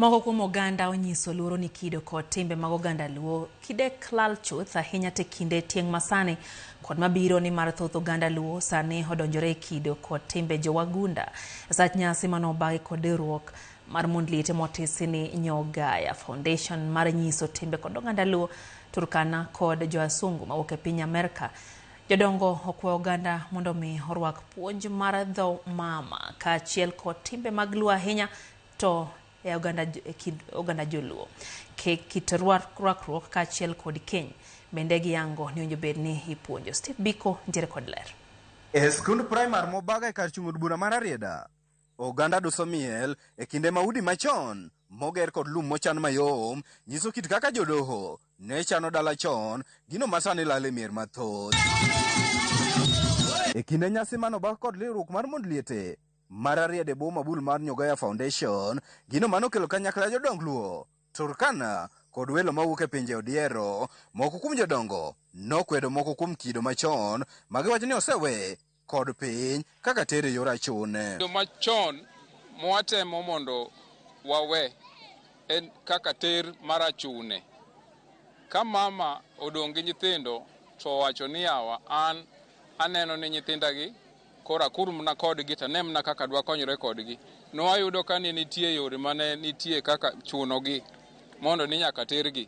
Moko kuom oganda onyiso luoro ni kido kod timbe mag oganda Luo kidek lal chuth ahinya te kinde tieng' masani kod mabiro ni mar thoth oganda Luo sani odonjore e kido kod timbe jowagunda sach nyasi mano obagi kod riwruok mar mond liete motisi ni Nyogaya Foundation mar nyiso timbe kod oganda Luo Turkana kod joasungu mawuok e piny Amerka Jodongo okwayo oganda mondo omi orwak puonj mar dho mama kaachiel kod timbe mag Luo ahinya to e oganda, e kind oganda Joluo. Ke- Kit rwa- rwakruok kaachiel kod keny bende giyango ni owinjo bed ni ipuonjo. Steve Biko nitiere kod ler. E skund primar Mobaga e kar chung od bura ma Rarieda, oganda duso miel e kinde ma udi machon moger kod lum mochan mayom nyiso kit kaka jodoho ne chano dala chon, gino masani lal e mier mathoth. E kinde nyasi manoba kod riwruok mar mond liete mar Ariad e bwo mabul mar Nyogaya Foundation, gino manokelo kanyakla jodong Luo, Turkana kod welo mawuok e pinje odiero. Moko kuom jodongo nokwedo moko kuom kido machon ma giwacho ni osewe kod piny kaka tere e yor achune. Yo machon mwatemo mondo wawe en kaka ter mar achune. Ka mama odong' gi nyithindo to owacho ni yawa an aneno ni nyithinda gi koro akur mna kodgi to ane mna kaka dwakonyre kodgi. Nwayudo ka ne nitie yore mane nitie kaka chunogi mondo ni nyaka tergi.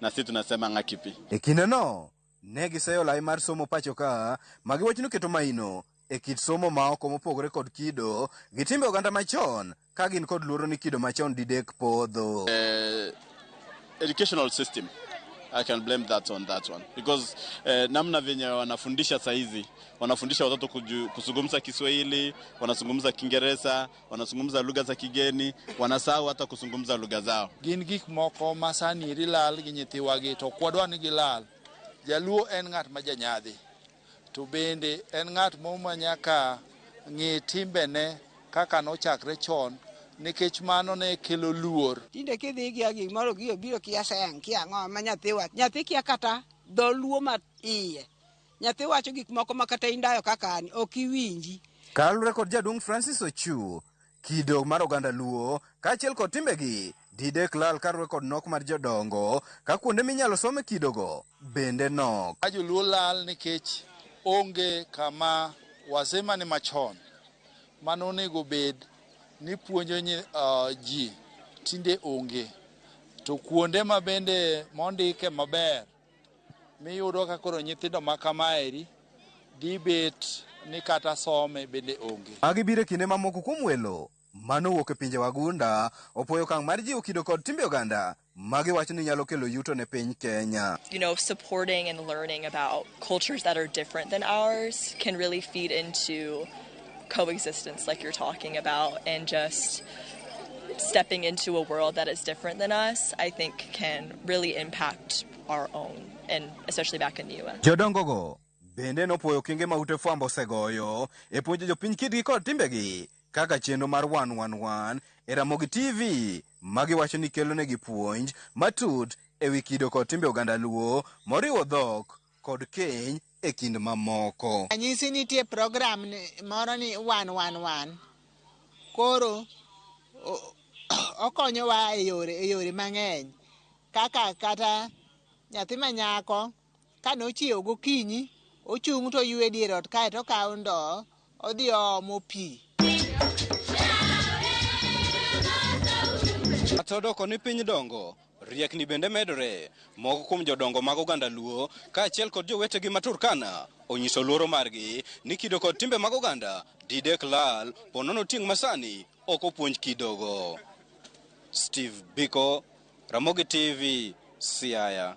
na sisi tunasema ng'akipi. E kindeno, ne giseyo lai mar somo pachoka ma giwacho ni oketo maino e kit somo ma oko mopogore kod kido gi timbe oganda machon ka gin kod luoro ni kido machon didek podho. Uh, educational system I can blame that on that one because eh, namna venye wanafundisha saizi wanafundisha watoto kuju, kuzungumza Kiswahili, wanazungumza Kiingereza, wanazungumza lugha za kigeni, wanasahau hata kuzungumza lugha zao. Gin gik moko ma sani eri lal gi nyithiwagi to kwadwa ni gilal. Jaluo en ng'at ma janyadhi to bende en ng'at mo ma nyaka ng'e timbene kaka nochakre chon nikech mano ne kelo luor. Tinde kidhi gi agi moro gi obiro kia seng kia ng'o ma nyathi wach. Nyathi kia kata dho luo ma iye. Nyathi wacho gik moko ma kata indayo kaka an ok iwinji. Kalure kod jaduong' Francis Ochu, kido mar oganda Luo kaachiel kod timbegi didek lal karuwe kod nok mar jodongo ka kuonde minyalo some kidogo bende nok. Ka joluo lal nikech onge kama wazee mane machon mane onego bed ni puonjo ji tinde onge to kuonde ma bende mondike maber. miyudo ka koro nyithindo ma kamaeri dibet ni kata some bende onge. Magi biro e kinde ma moko kuom welo ma nowuok e pinje wagunda opwoyo okang' mar jiwo kido kod timbe oganda ma giwacho ni nyalo kelo yuto ne piny Kenya. You know, supporting and learning about cultures that are different than ours can really feed into coexistence like you're talking about and just stepping into a world that is different than us, I think can really impact our own and especially back in the US. Jodongogo bende nopuoyo kinge ma ute fwambo osegoyo e puonjo jopiny kitgi kod timbegi kaka chenro mar 111 e Ramogi TV ma giwacho ni kelonegi puonj matut e wi kido kod timbe oganda Luo moriwo dhok kod keny e kind mamoko. Ranyisi nitie program moro ni one one one. Koro okonyowa e yore e yore mang'eny kaka kata nyathi manyako kane ochiewo gokinyi ochung' to oywe dier ot kae to okawo ndoo Odhi oomo pi. Kata odoko ni piny dongo, riekni bende medore. Moko kuom jodongo mag oganda Luo kaachiel kod jowetegi ma Turkana onyiso luoro margi ni kido kod timbe mag oganda didek lal ponono tieng' masani ok opuonj kidogo. Steve Biko, Ramogi TV, Siaya.